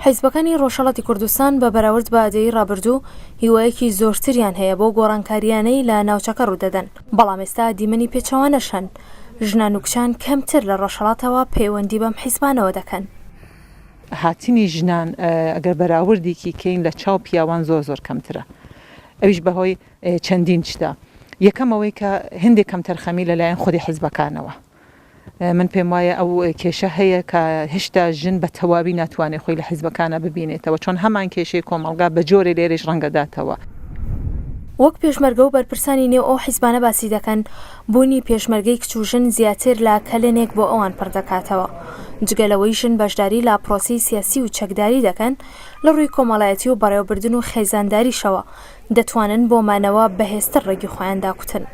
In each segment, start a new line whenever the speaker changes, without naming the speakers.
حیزبەکانی ڕۆژهەڵاتی کوردستان بە بەراورد بە دەیەی ڕابردوو هیوایەکی زۆرتریان هەیە بەو گۆڕانکارییانەی لە ناوچەکە ڕوودەدەن، بەڵام ئێستا دیمەنی پێچەوانەش هەن، ژنان و کچان کەمتر لە ڕۆژهەڵاتەوە پەیوەندی بەم حیزبانەوە دەکەن.
هاتنی ژنان ئەگەر بەراوردێکی کەین لە چاو پیاوان زۆر زۆر کەمترە، ئەویش بەهۆی چەندین شتە، یەکەم ئەوەی کە هێندێک کەمتەرخەمی لەلایەن خودی حیزبەکانەوە، من پێم وایە ئەو کێشە هەیە کە هێشتا ژن بە تەواوی ناتوانێت خۆی لە حیزبەکانا ببینێتەوە چۆن هەمان کێشەی کۆمەڵگا بە جۆرێ لێرەیش ڕەنگەداتەوە.
وەک پێشمەرگە و بەرپرسانی نێو ئەو حیزبانە باسی دەکەن، بوونی پێشمەرگەی کچ و ژن زیاتر لە کەلێنێک بۆ ئەوان پڕ دەکاتەوە. جگە لەوەی ژن بەشداری لە پرۆسەی سیاسی و چەکداری دەکەن، لە ڕووی کۆمەڵایەتی و بەڕێوەبردن و خێزانداریشەوە، دەتوانن بۆ مانەوە بەهێزتر ڕێگی خۆیان داکوتن.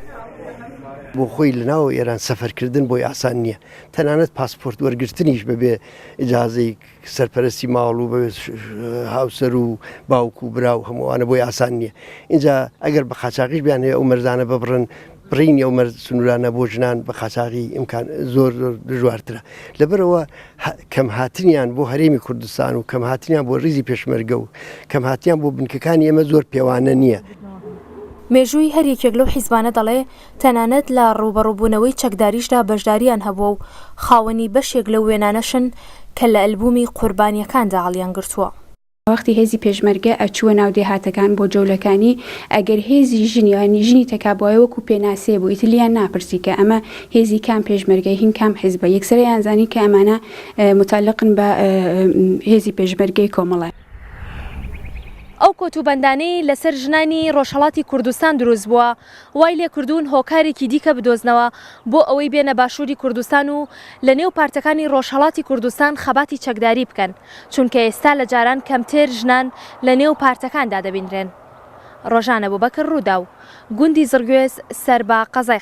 بۆ خۆی لە ناو ئێران سەفەرکردن بۆی ئاسان نییە، تەنانەت پاسپۆرت وەرگرتنیش بەبێ ئیجازەی سەرپەرەستی ماڵ و بەبێ هاوسەر و باوک و برا و هەموو ئەوانە بۆی ئاسان نییە. ئینجا ئەگەر بە قاچاغیش بیانەوێ ئەو مەرزانە ببڕن، بڕینی ئەو مەرج سنوورانە بۆ ژنان بە قاچاغی ئیمکان زۆر زۆر دژوارترە لەبەرەوە کەم هاتنیان بۆ هەرێمی کوردستان و کەم هاتنیان بۆ ریزی پێشمەرگە و کەم هاتیان بۆ بنکەکانی ئێمە زۆر پێوانە نییە. مێژووی
هەر یەکێک لەو حیزبانە دەڵێ تەنانەت لە ڕووبەڕووبوونەوەی چەکداریشدا بەشدارییان هەبووە و خاوەنی بەشێک لەو وێنانەشن کە لە ئەلبوومی قوربانییەکاندا هەڵیانگرتووە. وەختی هێزی
پێشمەرگە ئەچووە ناو دێهاتەکان بۆ جەولەکانی ئەگەر هێزی ژنی یانی ژنی تەکابوایە وەکو پێناسەیە بوو ئیتر لیان ناپرسی کە ئەمە هێزی کام پێشمەرگەی هین کام حیزبە یەکسەر ئەیانزانی کە ئەمانە متەعلقن بە هێزی پێشمەرگەی کۆمەڵە.
ئەو کۆت و بەندانەی لەسەر ژنانی ڕۆژهەڵاتی کوردستان دروست بووە وای لێکردوون هۆکارێکی دیکە بدۆزنەوە بۆ ئەوەی بێنە باشووری کوردستان و لە نێو پارتەکانی ڕۆژهەڵاتی کوردستان خەباتی چەکداری بکەن، چونکە ئێستا لە جاران کەمتر ژنان لە نێو پارتەکاندا دەبینرێن. ڕۆژان ئەبوبەکر ڕووداو، گوندی زڕگوێز سەر بە قەزای.